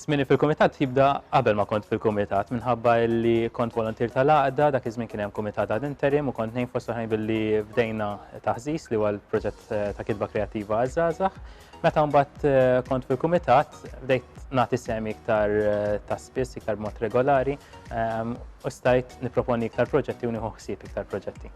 Zmini fil-kumitat jibda qabel ma kont fil-kumitat minħabba li kont volontier tal-għaqda, dak iż-żmien kien hemm kumitat għad interim u kont ngħin fost oħrajn billi bdejna taħżiż li huwa l-proġett eh, ta' kitba kreattiva għaż-żgħażagħ. Meta mbagħad eh, kont fil-kumitat bdejt nagħti semi iktar eh, ta' spiss, iktar mod regolari ehm, u stajt niproponi iktar proġetti u nieħu ħsieb iktar proġetti.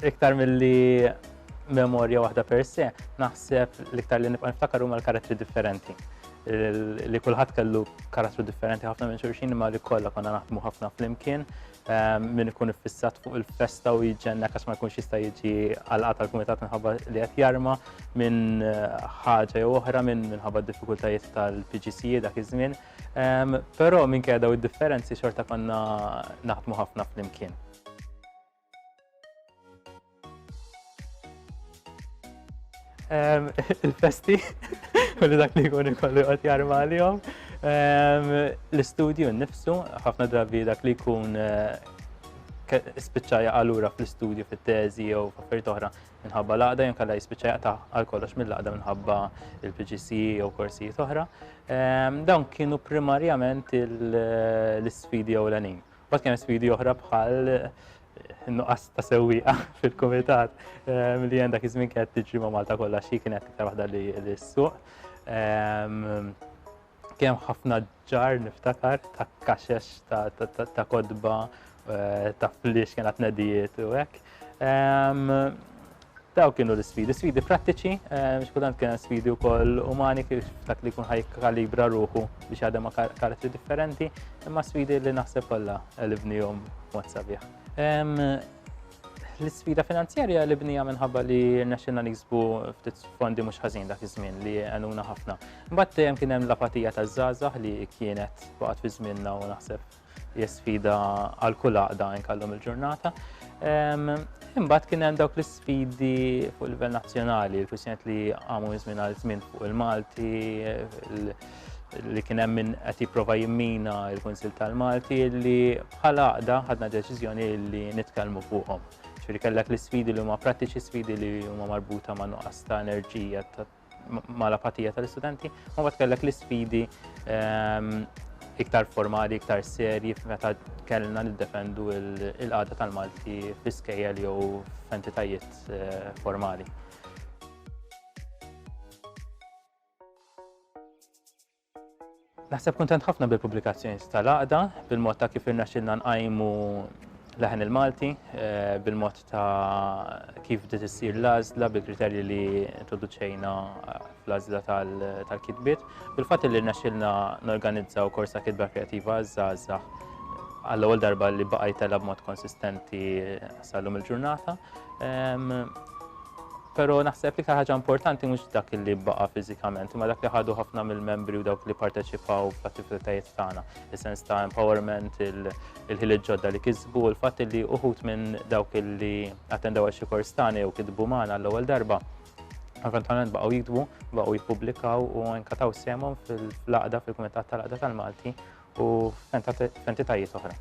Iktar milli memorja waħda per se, naħseb l-iktar li nibqa' niftakar huma l-karattri differenti. Li kulħadd kellu karattru differenti ħafna minn xulxin imma li kollha konna naħdmu ħafna flimkien ehm, min ikun iffissat fuq il-festa u jiġenna kas ma jkunx jista' jiġi għalqa tal-kumitat minħabba li qed jarma minn eh, ħaġa jew oħra minn minħabba d-diffikultajiet tal-PGC e dak iż-żmien. Però minkejja daw id-differenzi xorta konna naħdmu ħafna flimkien. Il-festi, kulli dak li jkun ikollu jqgħod jarma għalihom. L-istudju nnifsu, ħafna drabi dak li jkun eh, spiċċaja għalura fl-istudju fit-teżi jew f'affarijiet oħra minħabba l-għaqda jew kalla jispiċċa jaqta' għal kollox mill-għaqda minħabba il-PGC jew korsijiet oħra. Ehm, dawn kienu primarjament l-sfidi ewlenin. Bat kien sfidi oħra bħal eh, nuqqas ta' sewwieqa fil-kumitat ehm, li għandha iż-żmien kienet tiġri ma' Malta kollha xi kienet iktar waħda li s-suq. Ehm, Kemm ħafna ġar niftakar ta' kaxex, ta' kodba, eh, ta' flix kien tnedijiet u hekk. Daw kienu l-sfidi, sfidi prattiċi, xkultant kien sfidi wkoll umani kif dak li jkun ħaj kalibra ruħu biex għadem ma' karattri differenti, imma sfidi li naħseb kollha elibnihom mod sabiħ. L-isfida finanzjarja li bnija minħabba li rnexxilna niksbu ftit fondi mhux ħażin dak iż-żmien li għenuna ħafna. Mbagħad dejjem kien hemm l-apatija taż-żgħażagħ li kienet waqgħet fi żmienna u naħseb hija sfida għal kull għaqda inkallhom il-ġurnata. Ehm, imbagħad kien hemm dawk l-isfidi fuq livell nazzjonali, il-kwistjoniet li għamu żmien għal żmien fuq il-Malti, li kien hemm min qed jipprova jimmina l-Kunsil tal-Malti li bħala għaqda ħadna deċiżjoni li nitkellmu fuqhom. Ġifieri kellek l-isfidi li huma prattiċi sfidi li huma marbuta ma' nuqqas ta' enerġija ma' l-apatija tal-istudenti, ma bat kellek l-isfidi ehm, iktar formali, iktar serji meta kellna niddefendu l-qada tal-Malti fl-iskejjel jew f'entitajiet eh, formali. Naħseb kuntent ħafna bil-pubblikazzjoni tal-għaqda, bil-mod ta' kif irnexxilna nqajmu leħen il-Malti, eh, bil-mod ta' kif dit issir l-għażla bil-kriterji li introduċejna eh, fl-għażla tal-kitbiet, bil-fatt li rnexxilna norganizzaw korsa kitba kreativa żgħażagħ għall-ewwel darba li baqajt tela b'mod konsistenti eh, sal-lum il-ġurnata. Ehm, Pero naħseb li ħaġa importanti mhux dak li baqa' fiżikament, imma dak li ħadu ħafna mill-membri u dawk li parteċipaw fl-attivitajiet tagħna, is-sens ta' empowerment, il-ħiliet ġodda li kisbu, u l-fatt li uħut minn dawk li attendaw għal xi kors tagħna jew kitbu magħna l-ewwel darba eventualment baqgħu jikdbu, baqgħu jippubblikaw u nkataw semhom fil-laqda fil-Kumitat tal-Laqda tal-Malti u f'entitajiet oħra.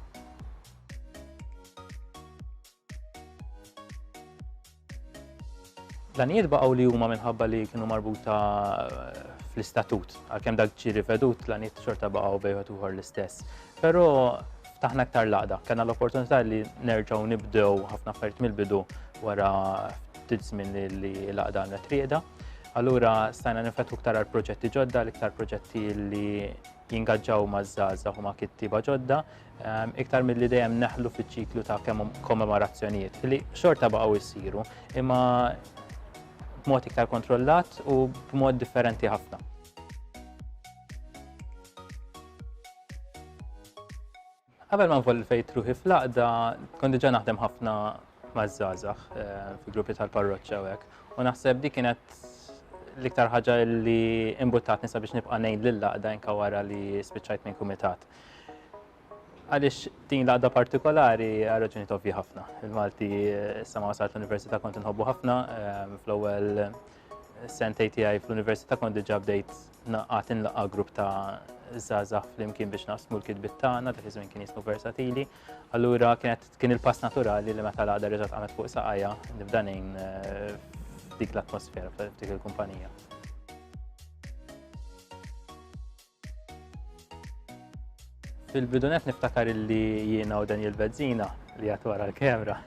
L-għanijiet baqgħu li huma minħabba li kienu marbuta eh, fl-istatut, għalkemm dak ġi rivedut l-għanijiet xorta baqgħu bejħet uħor l-istess. Però taħna aktar laqda, kena l-opportunità li nerġgħu nibdew ħafna affarijiet mill-bidu wara ftit żmien li laqda għandha trieda. Allura stajna nifetħu ktar għal proġetti ġodda, l-iktar proġetti li jingaġġaw ma' żgħażagħ u ma' kittiba ġodda, iktar milli dejjem neħlu fiċ-ċiklu ta' kemm kommemorazzjonijiet li xorta baqgħu jsiru imma b'mod iktar kontrollat u b'mod differenti ħafna. Qabel ma nvolli fejt ruħi fl-aqda, kont diġà naħdem ħafna maż-żgħażagħ eh, fi gruppi tal-parroċċa u hekk. U naħseb dik kienet l-iktar ħaġa li imbuttatni sabiex nibqa' ngħid lil laqda inka wara li spiċċajt minn kumitat. Għaliex din l-għaqda partikolari għal raġunijiet ovvji ħafna. Il-Malti issa ma wasalt l-Università kont inħobbu ħafna ehm, fl-ewwel sentej tiegħi fl-Università kont diġà bdejt naqgħat inlaqa' grupp ta' żgħażagħ flimkien biex naqsmu l-kitbit tagħna dak iż-żmien kien jismu versatili. Allura kienet kien il-pass naturali li meta l-għaqda reġgħet qamet fuq saqajja nibda ngħin eh, dik l-atmosfera f'dik il-kumpanija. Fil-bidunet niftakar li jiena u Daniel Bezzina li għat wara l-kamera.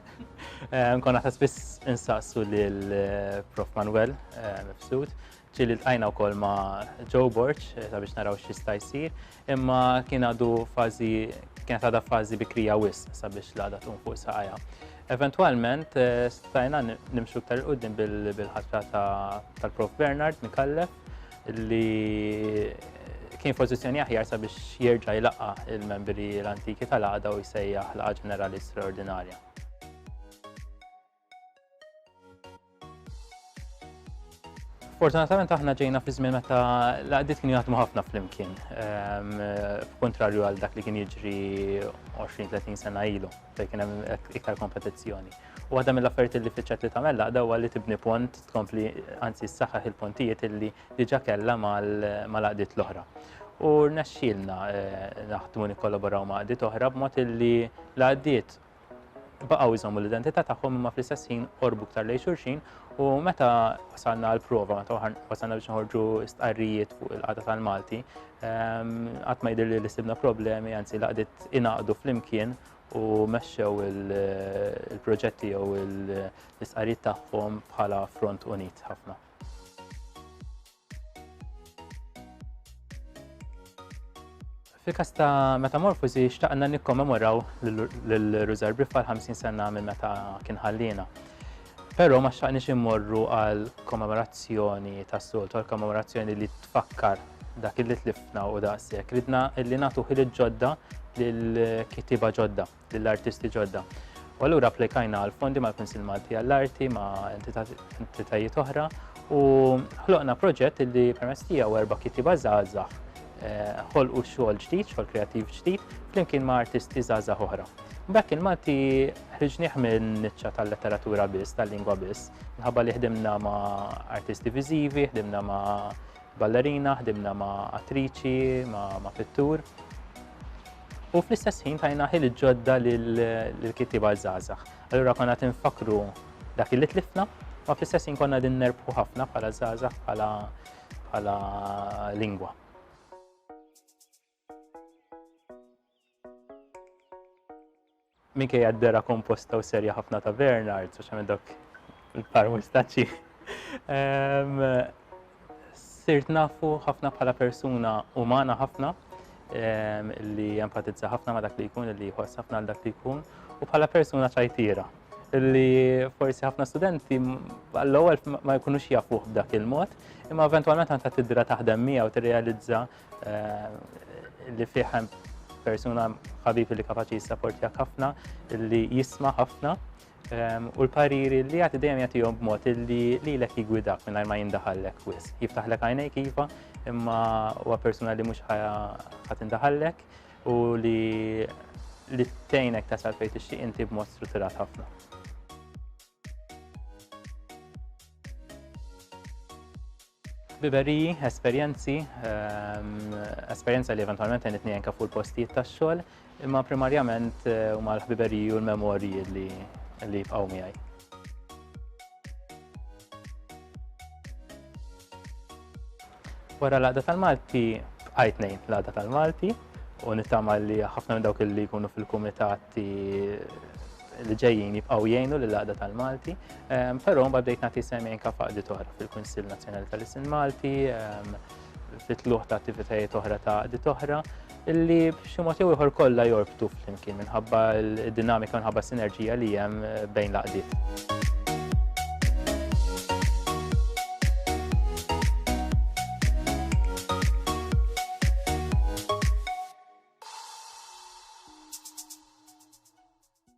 Eh, Nkonna ta' spiss insaqsu lil eh, Prof Manuel eh, Mifsud ċili l-tajna u kol ma Joe Borch sabiex naraw xista jisir imma kien għadu fazi kienet għada fazi bikrija wis sabiex l-għada tun fuq saqajja. Eventualment stajna nimxu ktar qudiem bil-ħatra tal-Prof Bernard Mikallef li kien f'pożizzjoni aħjar sabiex jerġa' jlaqqa' il-membri l-antiki tal-għaqda u jsejjaħ laqgħa ġenerali straordinarja. Fortunatament aħna ġejna fi żmien meta l-għaqdiet kienu jaħdmu ħafna flimkien, ehm, f'kontrarju għal dak li kien jiġri 20-30 sena ilu, fejn kien hemm iktar kompetizzjoni. Waħda mill-affarijiet li fiċċet li tagħmel laqda huwa li tibni pont tkompli anzi ssaħħaħ il-pontijiet illi diġà kellha mal-għaqdiet l-oħra. U rnexxielna eh, naħdmu nikkollaboraw ma' għaqdiet oħra b'mod illi l-għaqdiet baqgħu jżommu l-identità tagħhom imma fl-istess ħin qorbu ktar lejn xulxin u meta wasalna għal prova meta wasalna biex nħorġu stqarrijiet fuq il-qagħda tal-Malti ehm, qatt ma jidhirli li sibna problemi anzi laqdiet inaqdu flimkien u mexxew il-proġetti jew l-istqarijiet tagħhom bħala front unit ħafna. Fil-kas ta' Metamorfosi xtaqna nikkommemoraw l-Rużar Briffa l-50 sena minn meta kien ħallina. Però ma xtaqniex immorru għal kommemorazzjoni tas-soltu, għal kommemorazzjoni li tfakkar dak li tlifna u daqshekk. Ridna li nagħtu ħiliet ġodda lil kitiba ġodda, lill artisti ġodda. U allura applikajna għal fondi mal-Kunsil Malti għall-Arti ma' entitajiet oħra u ħloqna proġett li permess tiegħu erba' kitiba żgħażagħ eh, ħolqu xogħol ġdid, xogħol kreattiv ġdid, flimkien ma' artisti żgħażagħ oħra. Dak il-Malti Ħriġnieh minn niċċa tal-letteratura biss, tal-lingwa biss, minħabba li ħdimna ma' artisti viżivi, ħdimna ma' ballerina, ħdimna ma' attriċi, ma' pittur. U fl-istess ħin tajna ħil ġodda l-kittiba zazax. Allura konna tinfakru dak li tlifna, ma fl-istess ħin konna din nerbħu ħafna bħala zazax bħala lingwa. Minkejja d-dehra komposta u serja ħafna ta' Bernard, speċjalment dawk il-par mustaċċi, ehm, sirt nafu ħafna bħala persuna umana ħafna ehm, li empatizza ħafna ma dak li jkun, li jħoss ħafna għal dak li jkun, u bħala persuna ċajtira li forsi ħafna studenti għall-ewwel ma jkunux jafuh b'dak il-mod, imma eventwalment għandha tidra taħdem miegħu tirrealizza li fih hemm persuna ħabibi li kapaċi jissaportjak ħafna, li jisma ħafna, ehm, u l-pariri li jagħti dejjem jagħtihom b'mod li lilek jigwidak mingħajr ma jindaħallek wis. Jiftaħlek għajnejk iva, imma huwa persuna li mhux ħadd indaħallek u li li tgħinek tasal fejn tixtieq inti b'mod strutturat ħafna. Biberiji, esperjenzi, esperjenza li eventwalment għenitni jenka fuq il-postijiet tax-xogħol, imma primarjament eh, huma l-ħbiberiji u l-memorji li li jibqgħu miegħi. Wara l-għada tal-Malti, bqajt nejn l-għada tal-Malti, u nittama li ħafna minn dawk li jkunu fil-kumitati li ġejjin jibqgħu jgħinu lil għaqda tal-Malti, ehm, però mbagħad bdejt nagħti sem jgħin kaf għaqdiet oħra fil-Kunsill Nazzjonali tal-Isin Malti, ehm, fit-tluħ ta' attivitajiet oħra ta' għaqdiet oħra, illi b'xi mod jew ieħor kollha jorbtu flimkien minħabba l-dinamika minħabba sinerġija li hemm eh, bejn l-għaqdiet.